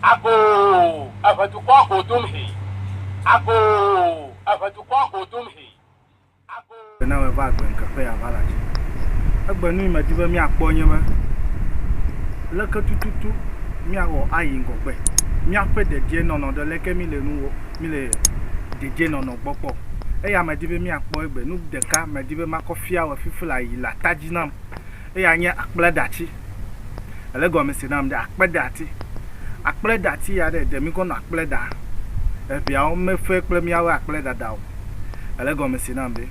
Agoo, eve dukɔa go dom hĩ. Agoo, eve dukɔa go dom hĩ. Agoo. Gbe na me va agbe ŋkeƒe ya va la dzi. Egbe nui medi be míakpɔ nye be leke tututu míawɔ ayi ŋgɔgbe, míaƒe dedienɔnɔ ɖe leke míle nu wɔ, míle dedienɔnɔ gbɔ kpɔ. Eya medi be míakpɔ egbe. Nu ɖeka medi be makɔ fia wɔ fifi la yi le ata dzi nam. Eya nye akpledatsi. Ele gɔme se nam ɖe akpedati. Akpledati ya ɖe ɖe mi kɔ nɔ akple ɖa. Eŋɛawo me fe kple miawoe akple ɖaɖa o. Ele gɔme se nam ɖe.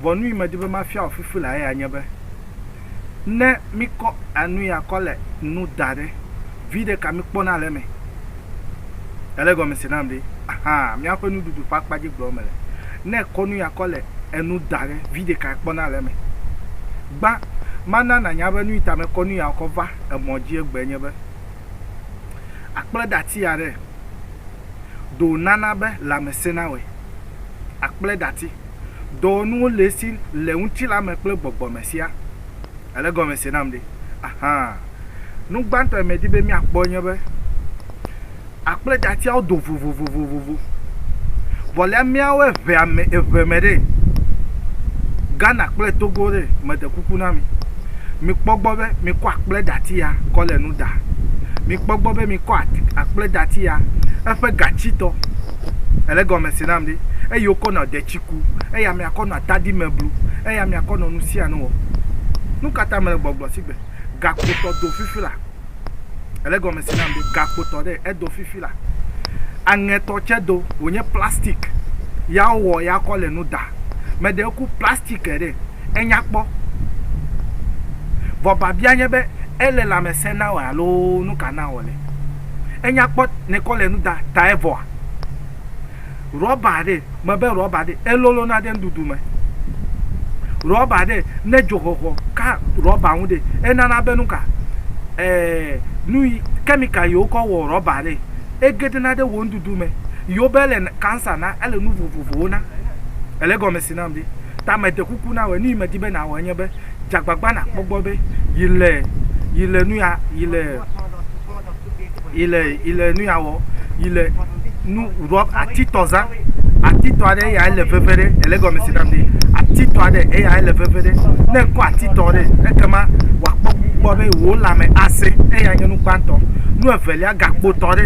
Vɔ nu yi me di be ma fia wò fifi lea eya nye be, ne mi kɔ enu ya kɔ le nu da ɖe, viɖe ka mi kpɔna le eme? Ele gɔme se nam ɖe. Ahaa míaƒe nuɖuɖu ƒe akpa dzi gblɔm mele. Ne èkɔ nu ya kɔ le enu da ɖe, vi ɖeka ekpɔna le eme. Gbã, mana nànya be nuyi ta mekɔ nu ya kɔ va emɔ dzi egbea nye be, akpledati aɖe ɖo wònana be lãme sẽna wɔe. Akpledati. Dɔwɔnuwo le esi le ŋutilã me kple gbɔgbɔ me siaa. Ele gɔme se nam ɖe? Ahaa. Nu gbãtɔ yi medi be míakpɔ nye be akpledzatiawo do vovovovovo. Vɔ le míawo eŋea me eve me ɖe, Ghana kple Togo ɖe, meɖe kuku na mi, mikpɔ gbɔ be mikɔ akpledzati ya kɔ le nu ɖa. Mikpɔ gbɔ be mikɔ akpledzati ya eƒe gatsitɔ, ele gɔme se nam ɖe, eye wokɔ nɔ detsi ku, eya miakɔ nɔ atadi me blu, eya miakɔ nɔ nu sia nu wɔ. Nu ka ta mele gbɔgblɔ si gbe? gakpotɔ do fifi la. Ele gɔme se nam be gakpotɔ ɖe edo fifi la. Aŋɛtɔ tse do wònye plastik ya wowɔ ya kɔ le nu da. Meɖe ŋku plastik ɖe enya kpɔ. Vɔ biabia nye be ele lãmesẽ na wòa loo nuka na wòle? Enya kpɔ ne kɔ le nu da tae vɔa? Rɔba ɖe, mebe rɔba ɖe, elolona ɖe nuɖuɖu me. Rɔba ɖe, ne dzoxɔxɔ ka rɔba ŋu ɖe, enana be nuka, eee, nuyi, chemical yi wokɔ wɔ rɔba ɖe, egeɖena ɖe wò nuɖuɖu me. Yewo be ele cancer na, ele nu vovovowo na. Èle egɔme si nam ɖe? Ta meɖe kuku na wòe, nuyi medi be nàwɔ enye be, dze agbagba nàkpɔ gbɔ be yi le, yi le nuya, yi le. yi le yi le nu ya wɔ yi le nu rɔ atitɔ za atitɔ aɖe eya ele veve ɖe ele gɔme si nam be atitɔ aɖe eya ele veve ɖe ne kɔ atitɔ ɖe ekema wòakpɔ gbɔ be wò lãme asẽ eya nye nu gbãtɔ nu evelia gakpotɔ ɖe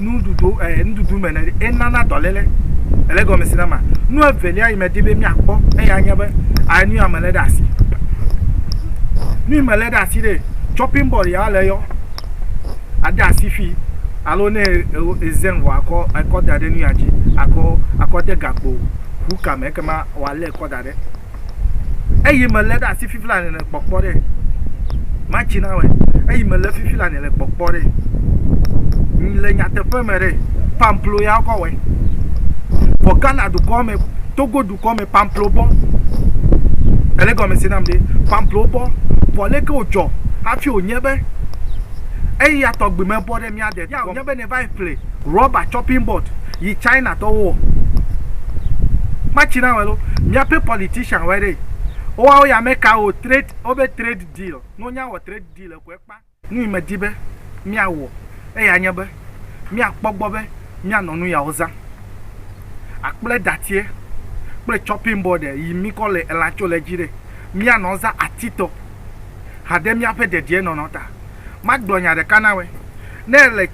nuɖuɖu ɛ eh, nuɖuɖu me ne enana dɔléle ele gɔme si na ma nu evelia yi medi be miakpɔ eya nye be enu ya mele ɖe asi nu yi mele ɖe asi ɖe chopping board ya le yɔ ade asi fi alo ne ezɛn vɔ akɔ akɔ da ɖe nu ya dzi akɔ akɔ de gakpo ʋu kame ekema wòalé kɔ da ɖe eyi me le ɖe asi fifi la nene kpɔkpɔ ɖe matsi na wɛ eyi me le fifi la nene kpɔkpɔ ɖe le nyateƒe me ɖe pamplo ya kɔ wɛ vɔ ghana dukɔ me togo dukɔ me pamplo bɔ ele gɔme se nam ɖe pamplo bɔ vɔ leke wodzɔ hafi wonye be eya tɔgbi me bɔ ɖe Nya de ya o nye be ne va yi ƒle rɔba chopping board yi China tɔwo wɔ kpatsi na wɛ lo. Mia ƒe politician wɛ ɖe. Wo wa wo ya me ka o trade wo be trade deal no nya wɔ trade deal eko ekpa. Nu yi me di be mia wɔ eya nye be mia kpɔ gbɔ be mia nɔ nu ya wo za. Akple datiɛ kple chopping board e yi mi kɔ le elan tso le dzi ɖe. Mia nɔ za ati tɔ hade mia ƒe dediɛ nɔnɔ ta. Magblɔ nya ɖeka na wɛ, ne èle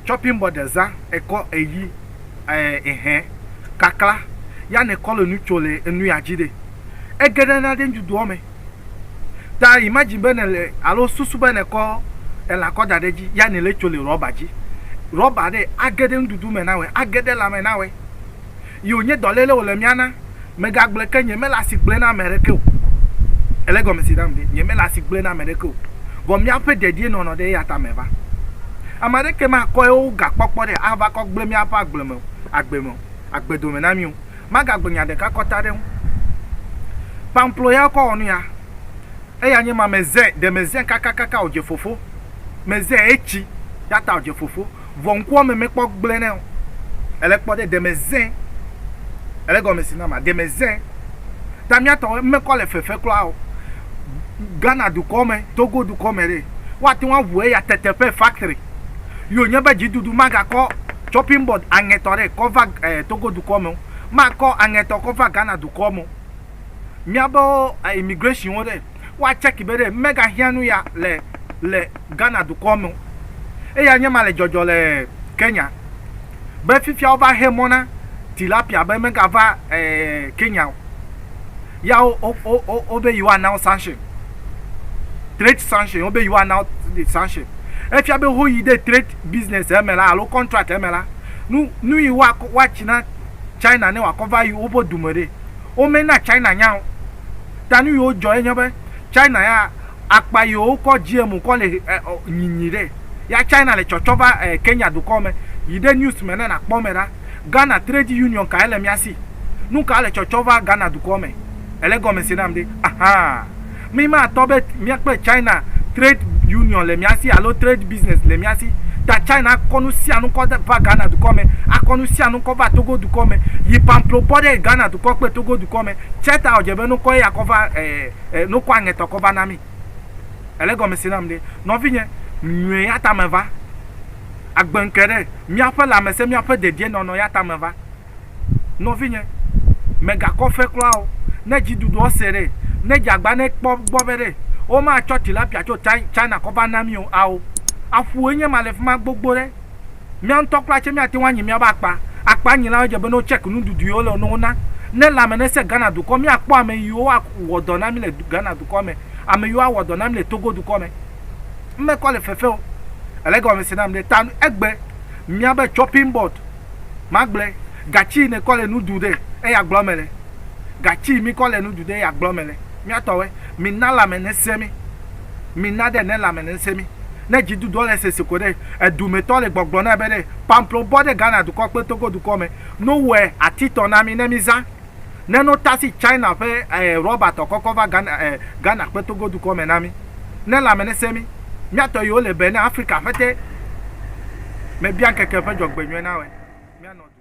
chopping board ɖe zã, èkɔ eyi ɛɛ ehɛ kakla ya ne kɔ le nu tso le enu ya dzi ɖe, ege ɖe na ɖe nuɖuɖuɔ me. Ta imagine be nèle alo susu be nèkɔ elã kɔ da ɖe edzi ya nèle tso le rɔba dzi. Rɔba ɖe age ɖe nuɖuɖu me na wɛ, age ɖe lãme na wɛ. yi wònye dɔléle wòle mía na. Megagblɔe ke, nyemele asi gblɔe na ame aɖeke o. Èlé gɔmesese nam ɖe? Nyemele asi gblɔe na ame aɖeke o. Vɔ míaƒe dedienɔnɔ ɖe eya ta meva. Ame aɖeke makɔ yewo gakpɔkpɔ ɖe ava kɔ gblẽ míaƒe agble me o, agbe me o, agbe dome na mí o. Magagblɔ nya ɖeka kɔta ɖe eŋu. Pamplo ya wokɔ wɔ nu ya, eya nye ma. Mezẽ, ɖe mezẽ kakakaka wòdze fofo. Mezẽ, etsi, eya ta wòdze fofo. Vɔ ŋkuame mekpɔ gblẽ nɛ o. Èle kpɔ ɖe deme zẽ. Èle gɔme si na ma? Deme zẽ. Ta mía tɔwo mekɔ le fefe kura o. Ghana dukɔ me, Togo dukɔ me ɖe, woate ŋu aŋu eya teteƒe, factory, yi wònye be dziɖuɖu magakɔ chopping board aŋɛtɔ ɖe kɔ va Togo dukɔ me o. Makɔ aŋɛtɔ kɔ va Ghana dukɔ me o. Míabe immigration wo ɖe. wa tsɛki be ɖe mega hiã nu ya le le Ghana dukɔ me o. Eya nye ma le dzɔdzɔ le Kenya be fifia wo va he mɔ na tilapia be mega va Kenya o. Ya wo wo wo wo wo be yewoa na wo sanction. Trade sanction, wo be yewoa na wo sanction. Efia be ho yi ɖe trade business eme la alo contract eme la, nu nu yi wa wa tsi na China ne wa kɔ va yi woƒe du me ɖe, wo me na China nya o. ta nu yiwo dzɔ ye nye be China ya akpa yiwo kɔ GMO kɔ le nyinyi ɖe ya China le tsɔtsɔ va Kenya dukɔ me yi ɖe news me ne nakpɔ me ɖa. Ghana trade union kae le mía si? Nuka le tsɔtsɔ va Ghana dukɔ me? Ele gɔme se nam ɖe? Ahaa. Mi ma tɔ be mía kple China trade union le mía si alo trade business le mía si ta China akɔ nu sia nu kɔ va Ghana dukɔ me, akɔ nu sia nu kɔ va Togo dukɔ me yi pamplo bɔ ɖe Ghana dukɔ kple Togo dukɔ me. Tsɛ ta wòdze be nukɔ ya kɔ va e, e, nukɔ aŋɛtɔ kɔ va na mí. Èle gɔme si nam ɖe? Nɔvinye, nyɔe ya ta meva. Agbe ŋke ɖe míaƒe lãmesẽ, míaƒe dedienɔnɔ ya ta meva. Nɔvinye, mègakɔ fe kura o. Ne dziɖuɖuɔ se ɖe, ne dzeagba ne kpɔ gbɔ be ɖe womatsɔ tilapia tso China kɔ va na mí o, ao, aƒue nye ma le fi ma gbogbo ɖe. Mía ŋutɔ kura tse míate ŋu anyi míaƒe akpa. Akpa nyilawo dze be ne wotsɛk nuɖuɖu yiwo le ne wona. Ne lãme nesẽ Ghana dukɔ míakpɔ ame yiwo awɔ dɔ na mí le Ghana dukɔ me, ame yiwo awɔ dɔ na mí le Togo dukɔ me. Mekɔ le fefe o. Ele gɔmese nam ɖe ta egbe míabe chopping board magblɔe. Gatsi yi nekɔ le nu ɖu ɖe eya gblɔ mele. Gatsi yi mikɔ le nu ɖu ɖe eya gblɔ mele. Míatɔwɔe. Mina lãme nesẽ mí. Mina ɖe ne lãme ne ŋsẽ mí. Ne dziduduɔ le sese ko ɖe, edumɛtɔ le gbɔgblɔ nɛ be ɖe, pamplo bɔ ɖe Ghana dukɔ kple Togo dukɔ mɛ no wɛ atitɔ na mí ne mí zã. Ne no tasi China ƒe eh rɔba tɔ kɔkɔ va Ghana eh Ghana kpe Togo dukɔ mɛ na mí. Ne lãme ne ŋsẽ mí. Mía tɔ yi wo le be ne Afrika ƒete mɛ bia ŋkeke ƒe dzɔgbenyuie na wɛ. Mía nɔ du.